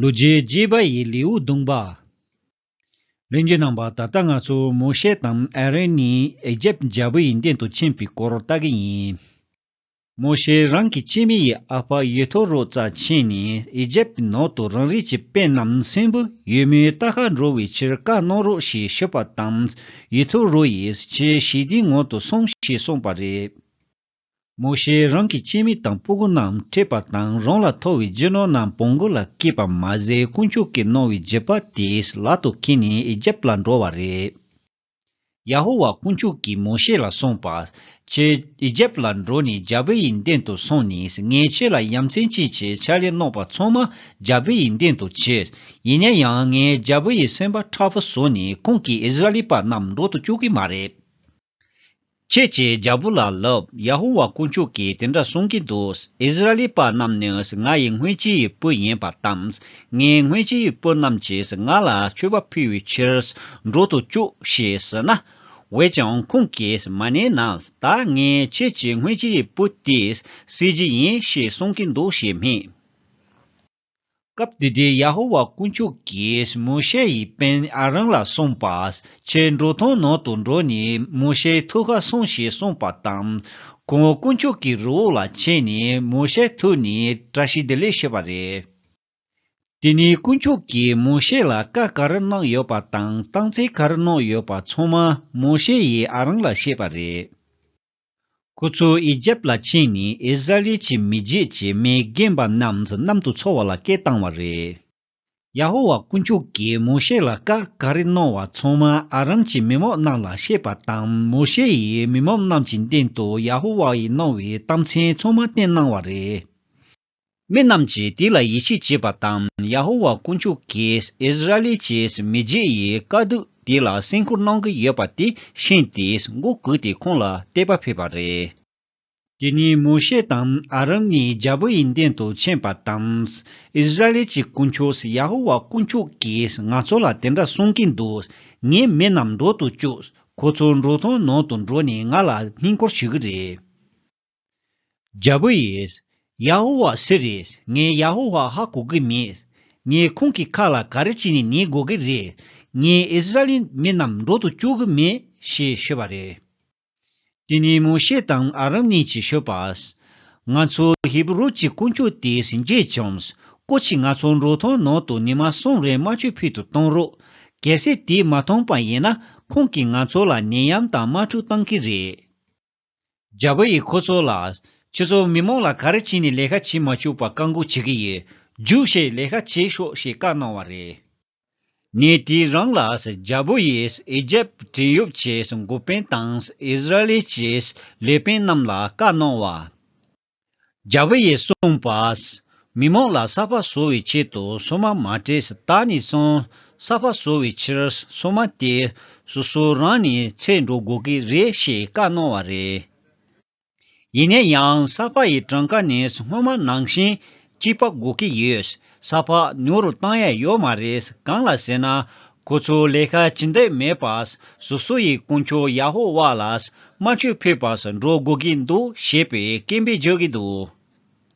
ལུ་རྗེའི་རྗེས་པ་ཡི་ལེའུ་བདུན་པ། རིམ་གྱིས་གནང་བ་ད་ལྟ་ང་ཚོ་མོ་ཤེ་དང་ཨ་རོན་གཉིས་ཨེ་ཇེབ་རྒྱལ་པོ་ཡི་འདན་དུ་ཕྱིན་པའི་སྐོར་ལྟ་གི་ཡིན། མོ་ཤེ་རང་གི་སྐྱེད་མི་ཡི་ཨ་ཕ་ཡེ་ཐོ་རོ་རྩ་ཆེན་ནས་ཨེ་ཇེབ་ཀྱི་ནང་དུ་རང་རིགས་ཀྱི་དཔེ་རྣམས་སྲིན་བུ་ཡོད་མོའི་རྟ་ཁ་འགྲོ་བའི་ཕྱིར་བཀའ་གནང་རོགས་ཞེས་ཞུས་པ་དང་ཡེ་ཐོ་རོ་ཡིས་ཁྱེད་ཞི་བདེའི་ངང་དུ་སོང་ཞེས་གསུངས་པ་རེད། མོ་ཤེས་རང་གི་ཁྱིམ་མི་དང་སྤུ་གུ་རྣམས་ཁྲིད་པ་དང་རང་ལ་ཐོ་བའི་རྒྱུ་ནོར་རྣམས་བོང་གུ་ལ་བསྐྱིས་པ་མ་ཟད་དཀོན་མཆོག་གིས་གནང་བའི་རྒྱུད་པ་དེས་ལག་ཏུ་ཁྱེར་ནས་ཨི་ཇིབ་ལ་འགྲོ་བ་རེད། ཡ་ཧོ་ཝཱ་དཀོན་མཆོག་གིས་མོ་ཤེ་ལ་གསུངས་པ། ཁྱོད་ཨི་ཇིབ་ལ་འགྲོ་ནས་རྒྱ་བལ་ཡི་མདུན་དུ་སོང་ནས་ངས་ཁྱོད་ལ་ཡ་མཚན་སྐྱེད་ཆེད་ཕྱག་ལས་གནང་པ་ཚང་མ་རྒྱ་བལ་ཡི་མདུན་དུ་ཁྱེར། ཡིན་ན་ཡང་ངས་རྒྱ་བལ་ཡི་སེམས་པ་ཁྲག་བུ་བཟོས་ནས་ཁོང་གིས་ཨི་ཟི་ར་ལི་པ་རྣམས་འགྲོ་དུ་བཅུག་གི་མ་རེད། ཁྱེད་ཀྱིས་རྒྱལ་པོ་ལ་ལབ་ཡ་ཧུ་བ་དཀོན་མཆོག་གིས་དེ་འདྲ་གསུངས་ཀྱི་འདུག་ཨིསི་རཱཨེལི་པ་རྣམས་ནི་ང་ཡི་སྔོན་སྤྱི་ཡི་བུ་ཡིན་པ་དང། ངའི་སྔོན་སྤྱི་ཡི་བུ་རྣམས་ཀྱིས་ང་ལ་མཆོད་པ་ཕུལ་བའི་ཕྱིར་འགྲོ་དུ་བཅུག་ཞེས་ཟེར་ན། འོན་ཀྱང་ཁོང་གིས་མ་ནེ་ན་ད་ངས་ཁྱེད་ཀྱི་སྔོན་སྤྱི་ཡི་བུ་དེ་བསད་རྒྱུ་ཡིན་ཞེས་གསུངས་ཀྱི་འདུག་ཞེས་སྨྲས། སྐབས་དེ་དུས་ཡ་ཧོ་ཝཱ་དཀོན་མཆོག་གིས་མོ་ཤེ་ཡི་དཔོན་ཨ་རོན་ལ་གསུངས་པ། ཁྱོད་འབྲུག་ཐང་ནང་དུ་འགྲོ་ནས་མོ་ཤེའི་ཐུགས་ཁ་སྲུངས་ཞེས་གསུངས་པ་དང། ཁོང་དཀོན་མཆོག་གི་རི་བོ་ལ་ཕྱིན་ནས་མོ་ཤེའི་ཐུགས་ནས་བཀྲ་ཤིས་བདེ་ལེགས་ཞུས་པ་རེད། དེ་ནས་དཀོན་མཆོག་གིས་མོ་ཤེ་ལ་བཀའ་ག་རེ་གནང་ཡོད་པ་དང་བཏང་བརྩེ་ག་རེ་གནང་ཡོད་པ་ཚང་མ་མོ་ཤེ་ཡིས་ཨ་རོན་ལ་བཤད་པ་རེད། ཁོ་ཚོ་ཨི་ཇེབ་ལ་ཕྱིན་ནས་ཨིས་ར་ཨེལ་གྱི་མི་རྗེས་ཀྱི་མི་རྒན་པ་རྣམས་གནམ་དུ་འཚོ་བ་ལ་སྐད་བཏང་བ་རེད། ཡ་ཧོ་ཝཱ་དཀོན་མཆོག་གིས་མོ་ཤེ་ལ་བཀའ་ག་རེ་གནང་བ་ཚང་མ་ཨ་རམ་གྱི་མི་མང་རྣམས་ལ་བཤད་པ་དང་མོ་ཤེ་ཡིས་མི་མང་རྣམས་ཀྱི་མདུན་དུ་ཡ་ཧོ་ཝཱ་ཡིས་གནང་བའི་གཏམ་ཚན་ཚང་མ་བསྟན་གནང་བ་རེད། མི་རྣམས་ཀྱིས་དེ་ལ་ཡིད་ཆེས་བྱེད་པ་དང་ཡ་ཧོ་ཝཱ་དཀོན་མཆོག་གིས་ཨིས་ར་ཨེལ་གྱི་མི་རྗེ་ཡི་དཀའ་སྡུག་དེ་ལ་སེམས་ཁུར་གནང་གི་ཡོད་པ་དེ་ཤེས་ཏེ་མགོ་གུག་སྟེ་ཁོང་ལ་དད་པ་ཕེབས་པ་རེད། དེ་ནས་མོ་ཤེ་དང་ཨ་རོན་གཉིས་རྒྱལ་པོ་ཡི་མདུན་དུ་ཕྱིན་པ་དང། ཨིས་ར་ཨེལ་གྱི་དཀོན་མཆོག་ཡ་ཧོ་ཝཱ་དཀོན་མཆོག་གིས་ང་ཚོ་ལ་དེ་འདྲ་གསུང་གིན་འདུག་ངའི་མི་རྣམས་འགྲོ་དུ་བཅུག་ཁོ་ཚོ་འབྲོག་ཐང་ནང་དུ་འགྲོ་ནས་ང་ལ་བསྙེན་བཀུར་ཞུ་གི་རེད། རྒྱལ་པོ་ཡིས། ཡ་ཧོ་ཝཱ་ཟེར་རེ། ངས་ཡ་ཧོ་ཝཱ་ཧ་གོ་གི་མེད། ངས་ཁོང་གི་ཁ་ལ་ག་རེ་བྱས་ནས་ནི་གོ་གི་རེད། ངས་ཨིསི་རཱཨེལ་མི་རྣམས་འགྲོ་དུ་བཅུག་གི་མེད་ཞེས་ཤོད་པ་རེད། དེ་ནས་མོ་ཤེ་དང་ཨ་རམ་གཉིས་ཀྱིས་ཤོད་པ། ང་ཚོ་ཧེ་བི་རུ་གྱི་དཀོན་མཆོག་དེས་མཇལ་བྱུང། ཀོ་ཆི་ང་ཚོ་འབྲོག་ཐང་ནང་དུ་ཉི་མ་གསུམ་རེ་རྨ་ཆུ་ཕུད་དུ་གཏོང་རོགས། གལ་སྲིད་དེས་མ་ཐོངས་པ་ཡིན་ན་ཁོང་གིས་ང་ཚོ་ལ་ནད་ཡམས་དང་དམག་འཁྲུག་བཏང་གི་རེད། རྒྱ་བོད་ཡིས་ཁོ་ཚོ་ལ། ཁྱོད་ཚོ་མི་མང་ལ་ག་རེ་བྱས་ནས་ལས་ཀ་བྱེད་མ་བཅུག་པ་བཀག་འགོག་བྱེད་ཀྱི་ཡོད། རྒྱུགས་བཤད་ལས་ཀ་བྱེད་ཤོག་ཞེས་བཀའ་གནང་བ་རེད། ངས་དེའི་རང་ལ་རྒྱ་བོད་ཡིས་ཨེ་ཇེབ་བྲན་གཡོག་ཆེས་འགོ་དཔོན་དང་ཨིས་ར་ལེ་ཆེས་ལས་དཔོན་རྣམས་ལ་བཀའ་གནང་བ། རྒྱ་བོད་ཡིག་གསུངས་པ། མི་མང་ལ་གསར་པ་བཟོ་བའི་ཆེད་དུ་སོ་མ་མ་སྤྲད་ས་ད་ནས་བཟུང་གསར་པ་བཟོ་བའི་ཕྱིར་སོ་མ་དེ་སོ་སོ་རང་ནས་ཚད་འགྲོ་དགོས་ཀྱི་རེད་ཞེས་བཀའ་གནང་བ་རེད། ཡིན་ན་ཡང་གསར་པ་ཡི་གྲངས་ཀ་ནས་སྔོན་མ་ནང་བཞིན་སྐྱིད་པ་དགོས་ཀྱི་ཡོད། ས་ཕག་ཉོ་རུ་བཏང་ཡས་ཡོད་མ་རེད་གང་ལ་ཟེར་ན། ཁོ་ཚོ་ལས་ཀ་ཅི་འདེགས་མེད་པ། སོ་སོ་ཡི་དཀོན་མཆོག་ཡ་ཧོ་ཝཱ་ལ་སྨྲ་བརྗོད་ཕོད་པ་སུ་འགྲོ་དགོས་ཀྱི་འདུག་ཞེས་པའི་སྐད་འབོད་བརྗོད་ཀྱི་འདུག།